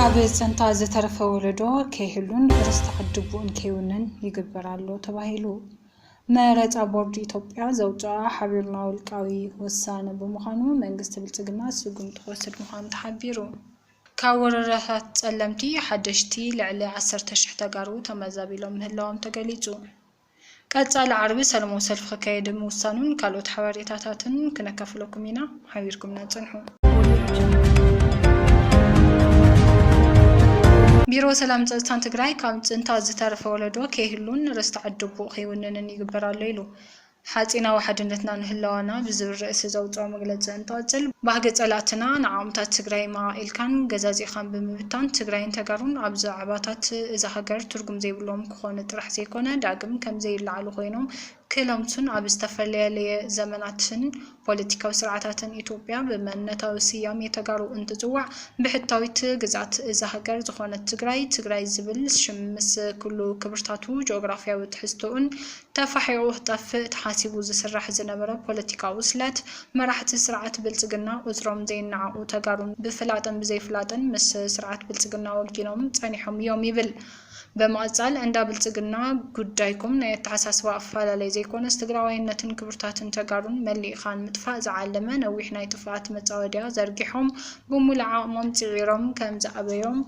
ኣብ ፅንታ ዝተረፈ ወለዶ ከይህሉን ርስቲ ዓድቡኡን ከይውንን ይግበር ኣሎ ተባሂሉ። መረፃ ቦርድ ኢትዮጵያ ዘውፅኣ ሓቢርና ውልቃዊ ውሳነ ብምዃኑ መንግስቲ ብልፅግና ስጉምቲ ክወስድ ምዃኑ ተሓቢሩ። ካብ ወረዳታት ፀለምቲ ሓደሽቲ ልዕሊ ዓሰርተ ሽሕ ተጋሩ ተመዛቢሎም ምህላዎም ተገሊፁ። ቀፃሊ ዓርቢ ሰለማዊ ሰልፊ ክካየድ ምውሳኑን ካልኦት ሓበሬታታትን ክነካፍለኩም ኢና። ሓቢርኩምና ፅንሑ። ቢሮ ሰላምን ፀፅታን ትግራይ ካብ ፅንተት ዝተረፈ ወለዶ ከይህሉን ርስቲ ዓዲ ኣቦኡ ከይውንንን ይግበር ኣሎ ኢሉ። ሓፂናዊ ሓድነትናን ህላወና ብዝብል ርእሲ ዘውፅኦ መግለፂ እንትቕፅል ባህጊ ፀላእትና ንዓቕምታት ትግራይ መቓቒልካን ገዛዚእኻን ብምብታን ትግራይን ተጋሩን ኣብ ዛዕባታት እዛ ሃገር ትርጉም ዘይብሎም ክኾኑ ጥራሕ ዘይኮነ ዳግም ከም ዘይለዓሉ ኮይኖም ክለምሱን ኣብ ዝተፈለለየ ዘመናትን ፖለቲካዊ ስርዓታትን ኢትዮጵያ ብመንነታዊ ስያሜ ተጋሩ እንትፅዋዕ ብሕታዊት ግዝኣት እዛ ሃገር ዝኾነት ትግራይ ትግራይ ዝብል ሽም ምስ ኩሉ ክብርታቱ ጂኦግራፍያዊ ትሕዝቶኡን ተፋሒቑ ክጠፍእ ተሓሲቡ ዝስራሕ ዝነበረ ፖለቲካዊ ስለት መራሕቲ ስርዓት ብልፅግና ቁፅሮም ዘይነዓቑ ተጋሩ ብፍላጥን ብዘይፍላጥን ምስ ስርዓት ብልፅግና ወጊኖም ፀኒሖም እዮም ይብል። ብምቕፃል እንዳ ብልፅግና ጉዳይኩም ናይ ኣተሓሳስባ ኣፈላላይ ዘይኮነስ ትግራዋይነትን ክብርታትን ተጋሩን መሊእኻ ንምጥፋእ ዝዓለመ ነዊሕ ናይ ጥፍኣት መፃወድያ ዘርጊሖም ብሙሉእ ዓቕሞም ፅዒሮም ከምዝኣበዮም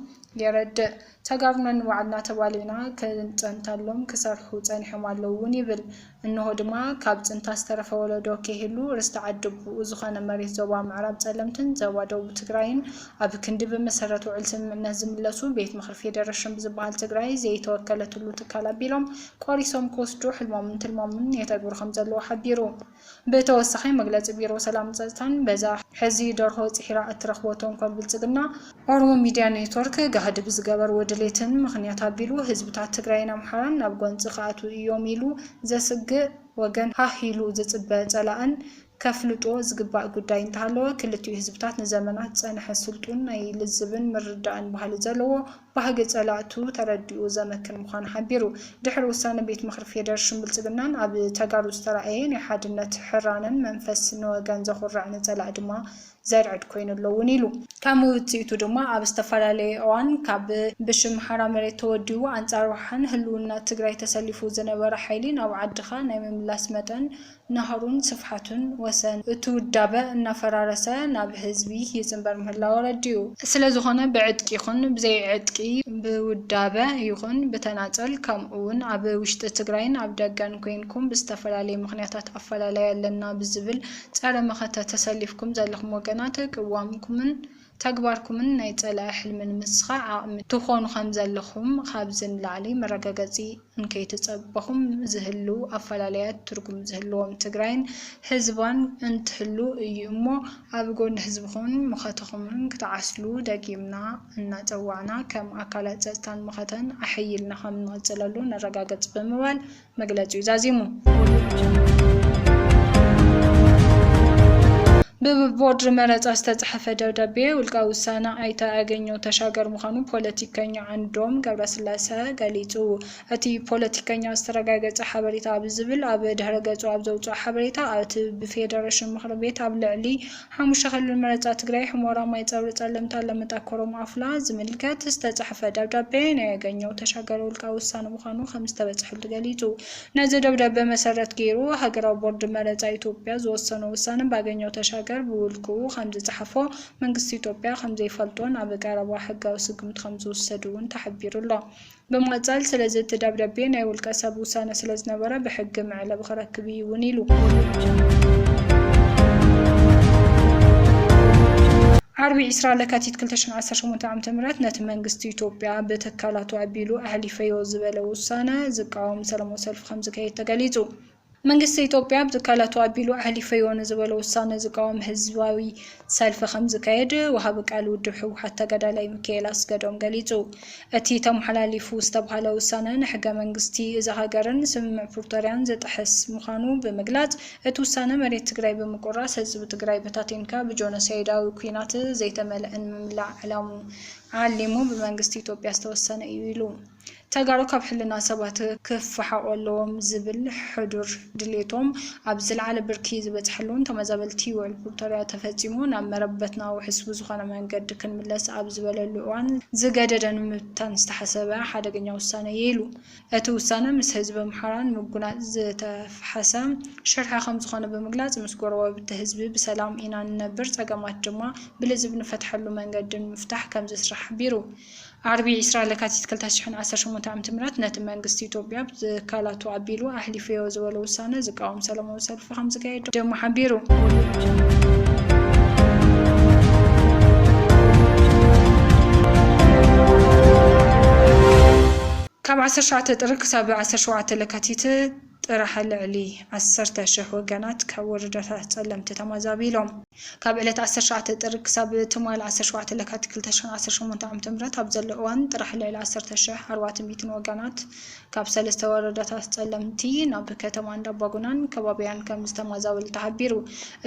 የረድእ። ተጋሩ ነንባዕልና ተባሊዕና ክንፀንተሎም ክሰርሑ ፀኒሖም ኣለዉ እውን ይብል። እንሆ ድማ ካብ ፅንታ ዝተረፈ ወለዶ ከይህሉ ርስቲ ዓዲ ኣቡኡ ዝኾነ መሬት ዞባ ምዕራብ ፀለምትን ዞባ ደቡብ ትግራይን ኣብ ክንዲ ብመሰረት ውዕል ስምምዕነት ዝምለሱ ቤት ምኽሪ ፌደረሽን ብዝበሃል ትግራይ ዘይተወከለትሉ ትካል ኣቢሎም ቆሪሶም ክወስዱ ሕልሞምን ትልሞምን የተግብሩ ከምዘለዉ ሓቢሩ። ብተወሳኺ መግለፂ ቢሮ ሰላምን ፀፅታን በዛ ሕዚ ደርሆ ፂሒራ እትረኽቦ ተንኮል ብልፅግና፣ ኦሮሞ ሚድያ ኔትወርክ ጋህዲ ብዝገበርዎ ድሌትን ምኽንያት ኣቢሉ ህዝብታት ትግራይን ኣምሓራን ናብ ጎንፂ ክኣትዉ እዮም ኢሉ ዘስግእ ወገን ሃህ ኢሉ ዝፅበ ፀላእን ከፍልጦ ዝግባእ ጉዳይ እንተሃለወ ክልቲኡ ህዝብታት ንዘመናት ዝፀንሐ ስልጡን ናይ ልዝብን ምርዳእን ባህሊ ዘለዎ ባህጊ ፀላእቱ ተረዲኡ ዘመክን ምዃኑ ሓቢሩ። ድሕሪ ውሳነ ቤት ምኽሪ ፌደርሽን ብልፅግናን ኣብ ተጋሩ ዝተራእየ ናይ ሓድነት ሕራነን መንፈስ ንወገን ዘኹርዕ ንፀላእ ድማ ዘርዕድ ኮይኑ ኣሎ እውን ኢሉ። ከም ውፅኢቱ ድማ ኣብ ዝተፈላለየ እዋን ካብ ብሽም ሓራ መሬት ተወዲቡ ኣንፃር ውሓን ህልውና ትግራይ ተሰሊፉ ዝነበረ ሓይሊ ናብ ዓድኻ ናይ ምምላስ መጠን ናህሩን ስፍሓቱን ወሰን እቲ ውዳበ እናፈራረሰ ናብ ህዝቢ ይፅምበር ምህላው ኣረዲኡ። ስለዝኾነ ብዕጥቂ ይኹን ብዘይዕጥቂ፣ ብውዳበ ይኹን ብተናፀል ከምኡ እውን ኣብ ውሽጢ ትግራይን ኣብ ደገን ኮይንኩም ብዝተፈላለየ ምኽንያታት ኣፈላላይ ኣለና ብዝብል ጸረ መኸተ ተሰሊፍኩም ዘለኹም ወገናት ቅዋምኩምን ተግባርኩምን ናይ ጸላኢ ሕልሚ ንምስኻዕ ዓቕሚ ትኾኑ ከምዘለኹም ካብዚ ንላዕሊ መረጋገጺ እንከይተጸበኹም ዝህልው ኣፈላላያት ትርጉም ዝህልዎም ትግራይን ህዝባን እንትህሉ እዩ እሞ ኣብ ጎኒ ህዝብኹምን መኸተኹምን ክትዓስሉ ደጊምና እናጸዋዕና ከም ኣካላት ጸጥታን መኸተን ኣሐይልና ከምንቕጽለሉ ነረጋግጽ ብምባል መግለጺኡ ዛዚሙ። ብቦርድ መረፃ ዝተፅሐፈ ደብዳቤ ውልቃዊ ውሳነ ኣይተ ኣገኘሁ ተሻገር ምዃኑ ፖለቲከኛ ዓንዶም ገብረስላሰ ገሊፁ። እቲ ፖለቲከኛ ዝተረጋገፀ ሓበሬታ ብዝብል ኣብ ድሕረ ገፁ ኣብ ዘውፅኦ ሓበሬታ፣ እቲ ብፌደሬሽን ምኽሪ ቤት ኣብ ልዕሊ ሓሙሽተ ክልል መረፃ ትግራይ ሑመራ ማይ ፀብሪ ፀለምቲ ኣለምጣ ኮረም ኣፍላ ዝምልከት ዝተፅሐፈ ደብዳቤ ናይ ኣገኘው ተሻገር ውልቃዊ ውሳነ ምዃኑ ከምዝተበፅሐሉ ገሊፁ። ነዚ ደብዳቤ መሰረት ገይሩ ሃገራዊ ቦርድ መረፃ ኢትዮጵያ ዝወሰኖ ውሳነ ብኣገኘው ተሻገር ብውልቅኡ ከምዝፀሓፎ መንግስቲ ኢትዮጵያ ከምዘይፈልጦን ኣብ ቀረባ ሕጋዊ ስጉምቲ ከምዝውሰድ እውን ተሓቢሩ ኣሎ። ብምቕጻል ስለዚ እቲ ደብዳቤ ናይ ውልቀ ሰብ ውሳነ ስለዝነበረ ብሕጊ መዕለቢ ክረክብ ኢዩ እውን ኢሉ። ዓርቢ ዕስራ ለካቲት ክልተ ሽሕን ዓሰርተ ሸሞንተን ዓመተ ምህረት ነቲ መንግስቲ ኢትዮጵያ ብትካላቱ ኣቢሉ ኣሕሊፈዮ ዝበለ ውሳነ ዝቃወም ሰላማዊ ሰልፊ ከምዝካየድ ተገሊጹ። መንግስቲ ኢትዮጵያ ኣብ ትካላቱ ኣቢሉ ኣሕሊፈዮ ንዝበሎ ውሳነ ዝቃወም ህዝባዊ ሰልፊ ከምዝካየድ ወሃቢ ቃል ውድብ ህወሓት ተጋዳላይ ሚካኤል ኣስገዶም ገሊፁ። እቲ ተመሓላሊፉ ዝተብሃለ ውሳነ ንሕገ መንግስቲ እዛ ሃገርን ስምምዕ ፕሪቶርያን ዝጥሕስ ምዃኑ ብምግላፅ እቲ ውሳነ መሬት ትግራይ ብምቁራስ ህዝቢ ትግራይ በታቲንካ ብጆኖሳይዳዊ ኲናት ዘይተመልእን ምምላእ ዕላሙ ዓሊሙ ብመንግስቲ ኢትዮጵያ ዝተወሰነ እዩ ኢሉ። ተጋሩ ካብ ሕልና ሰባት ክፋሓቑ ኣለዎም ዝብል ሕዱር ድሌቶም ኣብ ዝለዓለ ብርኪ ዝበፅሐሉን ተመዛበልቲ ውዕል ፕሪቶርያ ተፈፂሙ ናብ መረበትና ውሕስ ብዝኾነ መንገዲ ክንምለስ ኣብ ዝበለሉ እዋን ዝገደደ ንምብታን ዝተሓሰበ ሓደገኛ ውሳነ እየ ኢሉ። እቲ ውሳነ ምስ ህዝቢ ኣምሓራ ንምጉናፅ ዝተፍሓሰ ሽርሒ ከምዝኾነ ብምግላፅ ምስ ጎረባብቲ ህዝቢ ብሰላም ኢና ንነብር ፀገማት ድማ ብልዝብ ንፈትሐሉ መንገዲ ንምፍታሕ ከምዝስራሕ ሓቢሩ። ዓርቢ ዕስራ ለካቲት ክልተ ሽሕን ዓሰርተ ሸሞንተን ዓመተ ምህረት ነቲ መንግስቲ ኢትዮጵያ ብ ትካላቱ ኣቢሉ ኣሕሊፈዮ ዝበሎ ውሳነ ዝቃወም ሰላማዊ ሰልፊ ከምዝካየድ ደማ ሓቢሩ። ካብ ዓሰርተ ትሽዓተ ጥሪ ክሳብ ዓሰርተ ሸውዓተ ለካቲት፣ ጥራሕ ልዕሊ ዓሰርተ ሽሕ ወገናት ካብ ወረዳታት ፀለምቲ ተማዛቢሎም። ካብ ዕለት ዓሰርተ ሸውዓተ ጥሪ ክሳብ ትማል ዓሰርተ ሸውዓተ ለካቲት ክልተ ሽሕን ዓሰርተ ሸሞንተን ዓመተ ምህረት ኣብ ዘሎ እዋን ጥራሕ ልዕሊ ዓሰርተ ሽሕ ኣርባዕተ ሚእትን ወገናት ካብ ሰለስተ ወረዳታት ፀለምቲ ናብ ከተማ እንዳባጉናን ከባቢኣን ከምዝተማዛበሉ ተሓቢሩ።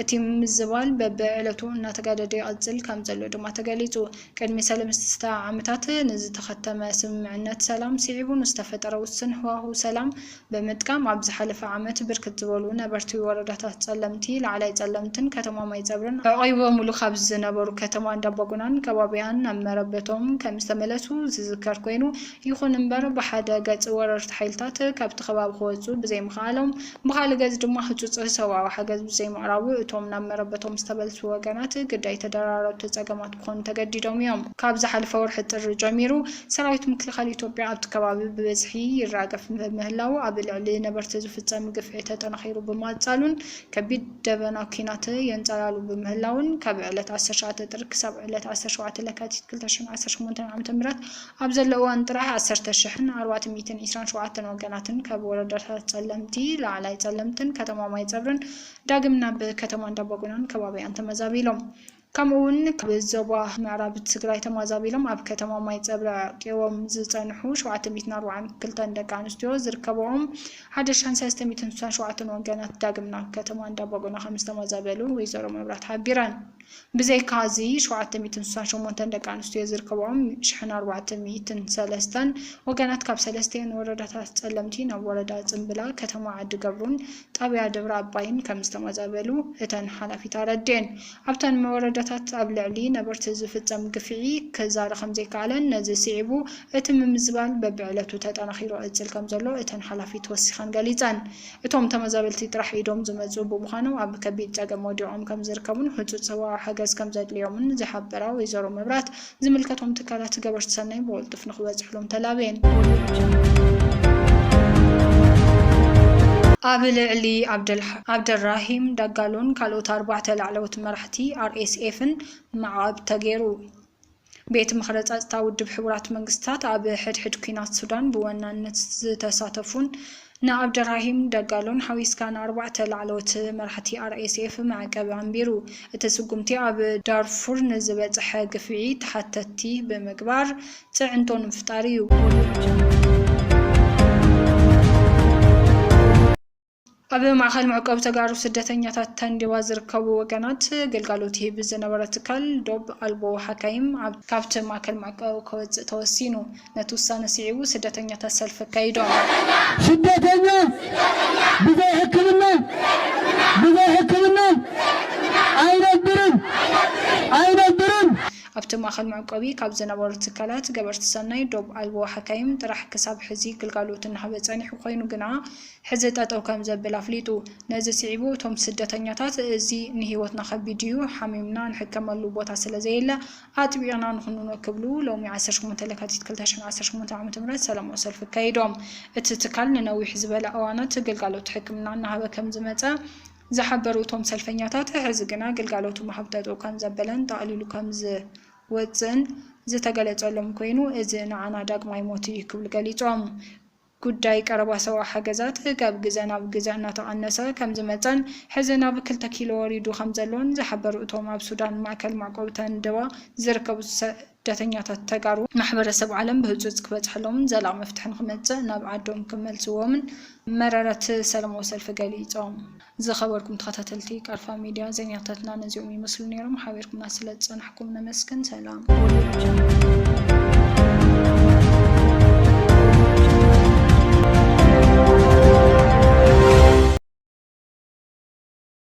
እቲ ምምዝባል በቢዕለቱ እናተጋደደ ይቕፅል ከምዘሎ ድማ ተገሊፁ። ቅድሚ ሰለስተ ዓመታት ንዝተኸተመ ስምምዕነት ሰላም ስዒቡ ንዝተፈጠረ ውሱን ህዋህው ሰላም፣ ብምጥቃም ኣብ ዝሓለፈ ዓመት ብርክት ዝበሉ ነበርቲ ወረዳታት ፀለምቲ፣ ላዕላይ ፀለምትን ከተማ ማይፀብርን ኣዕቚቦሙሉ ካብ ዝነበሩ ከተማ እንዳባጉናን ከባቢኣን ናብ መረበቶም ከምዝተመለሱ ዝዝከር ኮይኑ ይኹን እምበር ብሓደ ገፅ ወረርቲ ሓይልታት ካብቲ ከባቢ ክወፅኡ ብዘይምኽኣሎም ብኻልእ ገፅ ድማ ህፁፅ ሰብኣዊ ሓገዝ ብዘይምቕራቡ እቶም ናብ መረበቶም ዝተመልሱ ወገናት ግዳይ ተደራረብቲ ፀገማት ክኾኑ ተገዲዶም እዮም። ካብ ዝሓለፈ ወርሒ ጥሪ ጀሚሩ ሰራዊት ምክልኻል ኢትዮጵያ ኣብቲ ከባቢ ብበዝሒ ይራገፍ ብምህላዉ ኣብ ልዕሊ ነበርቲ ዝፍፀም ግፍዒ ተጠናኺሩ ብምቕፃሉን ከቢድ ደበና ኲናት የንፀላሉ ብምህላዉን ካብ ዕለት ዓሰርተ ትሽዓተ ጥሪ ክሳብ ዕለት ዓሰርተ ሸውዓተ ለካቲት ክልተ ሽሕን ዓሰርተ ሸሞንተን ዓመተ ምህረት ኣብ ዘሎ እዋን ጥራሕ ዓሰርተ ሽሕን ኣርባዕተ ሚእትን ዒስራን ሸውዓተን ወገናትን ካብ ወረዳታት ፀለምቲ፣ ላዕላይ ፀለምትን ከተማ ማይፀብርን ዳግም ናብ ከተማ እንዳባጉናን ከባቢኣን ተመዛቢሎም። ከምኡ ውን ካብ ዞባ ምዕራብ ትግራይ ተማዛቢሎም ኣብ ከተማ ማይፀብሪ ኣዕቂቦም ዝፀንሑ ሸውዓተ ሚእትን ኣርብዓን ክልተን ደቂ ኣንስትዮ ዝርከበኦም ሓደ ሽሕን ሰለስተ ሚእትን ስሳን ሸውዓተን ወገናት ዳግም ናብ ከተማ እንዳባጉና ከምዝተማዛበሉ ወይዘሮ መብራት ሓቢረን። ብዘይካ እዚ ሸውዓተ ሚእትን ስሳን ሸሞንተን ደቂ ኣንስትዮ ዝርከበኦም ሽሕን ኣርባዕተ ሚእትን ሰለስተን ወገናት ካብ ሰለስቲኤን ወረዳታት ፀለምቲ ናብ ወረዳ ፅምብላ፣ ከተማ ዓዲ ገብሩን ጣብያ ደብረ ኣባይን ከምዝተማዛበሉ እተን ሓላፊት ኣረዲኤን። ኣብተን መወረዳታት ኣብ ልዕሊ ነበርቲ ዝፍጸም ግፍዒ ክዛረ ከምዘይከኣለን ነዚ ስዒቡ እቲ ምምዝባል በብዕለቱ ተጠናኺሩ እጽል ከምዘሎ እተን ሓላፊት ወሲኸን ገሊጸን። እቶም ተመዛበልቲ ጥራሕ ኢዶም ዝመጽኡ ብምዃኖም ኣብ ከቢድ ጸገም ወዲቖም ከምዝርከቡን ህጹጽ ሰብኣዊ ሓገዝ ከምዘድልዮምን ዝሓበራ ወይዘሮ መብራት፣ ዝምልከቶም ትካላት ገበርቲ ሰናይ ብቕልጡፍ ንክበፅሕሎም ተላብየን። ኣብ ልዕሊ ዓብደልራሂም ዳጋሎን ካልኦት ኣርባዕተ ላዕለዎት መራሕቲ ኣርኤስኤፍን ማዕቐብ ተገይሩ። ቤት ምኽሪ ፀፅታ ውድብ ሕቡራት መንግስታት ኣብ ሕድሕድ ኲናት ሱዳን ብወናነት ዝተሳተፉን ንዓብደራሂም ደጋሎን ሓዊስካ ንኣርባዕተ ላዕለዎት መራሕቲ RSF መዕቀቢ ኣንቢሩ። እቲ ስጉምቲ ኣብ ዳርፉር ንዝበፀሐ ግፍዒ ተሓተትቲ ብምግባር ፅዕንቶ ንምፍጣር እዩ። ኣብ ማእኸል መዕቆቢ ተጋሩ ስደተኛታት ተንዲዋ ዝርከቡ ወገናት ግልጋሎት ይህብ ዝነበረ ትካል ዶብ ኣልቦ ሓካይም ካብቲ ማእከል መዕቆቢ ከወፅእ ተወሲኑ። ነቲ ውሳነ ስዒቡ ስደተኛታት ሰልፊ ኣካይዶም። ስደተኛ ብዘይ ሕክምና ብዘይ ሕክምና ኣይነብርን ኣይነብርን! ኣብቲ ማእኸል መዕቆቢ ካብ ዝነበሩ ትካላት ገበርቲ ሰናይ ዶብ ኣልቦ ሓካይም ጥራሕ ክሳብ ሕዚ ግልጋሎት እናሃበ ፀኒሑ ኮይኑ ግና ሕዚ ጠጠው ከምዘብል ኣፍሊጡ። ነዚ ስዒቡ እቶም ስደተኛታት እዚ ንህይወትና ከቢድ እዩ ሓሚምና ንሕከመሉ ቦታ ስለዘየለ ኣጥቢቕና ንኹንኖ ክብሉ ሎሚ ዓሰርተ ሸሞንተ ለካቲት ክልተ ሽሕን ዓሰርተ ሸሞንተን ዓመተ ምህረት ሰላማዊ ሰልፊ ኣካይዶም። እቲ ትካል ንነዊሕ ዝበለ እዋናት ግልጋሎት ሕክምና እናሃበ ከምዝመፀ ዝሓበሩ እቶም ሰልፈኛታት ሕዚ ግና ግልጋሎቱ ምሃብ ጠጠው ከምዘበለን ጠቕሊሉ ከምዝወፅእን ዝተገለፀሎም ኮይኑ እዚ ንዓና ዳግማይ ሞት እዩ ክብሉ ገሊፆም። ጉዳይ ቀረባ ሰብኣዊ ሓገዛት ካብ ግዘ ናብ ግዘ እናተቐነሰ ከምዝመፀን ሕዚ ናብ ክልተ ኪሎ ወሪዱ ከምዘሎን ዝሓበሩ እቶም ኣብ ሱዳን ማእከል መዕቆቢ ተንደዋ ዝርከቡ ስደተኛታት ተጋሩ፣ ማሕበረሰብ ዓለም ብህፁፅ ክበፅሐሎምን ዘላቒ መፍትሒ ንክመፅእ ናብ ዓዶም ክመልስዎምን መረረት ሰለማዊ ሰልፊ ገሊፆም። ዝኸበርኩም ተኸታተልቲ ቃልፋ ሚድያ ዜናታትና ነዚኦም ይመስሉ ነይሮም። ሓቢርኩምና ስለዝፀናሕኩም ነመስግን። ሰላም።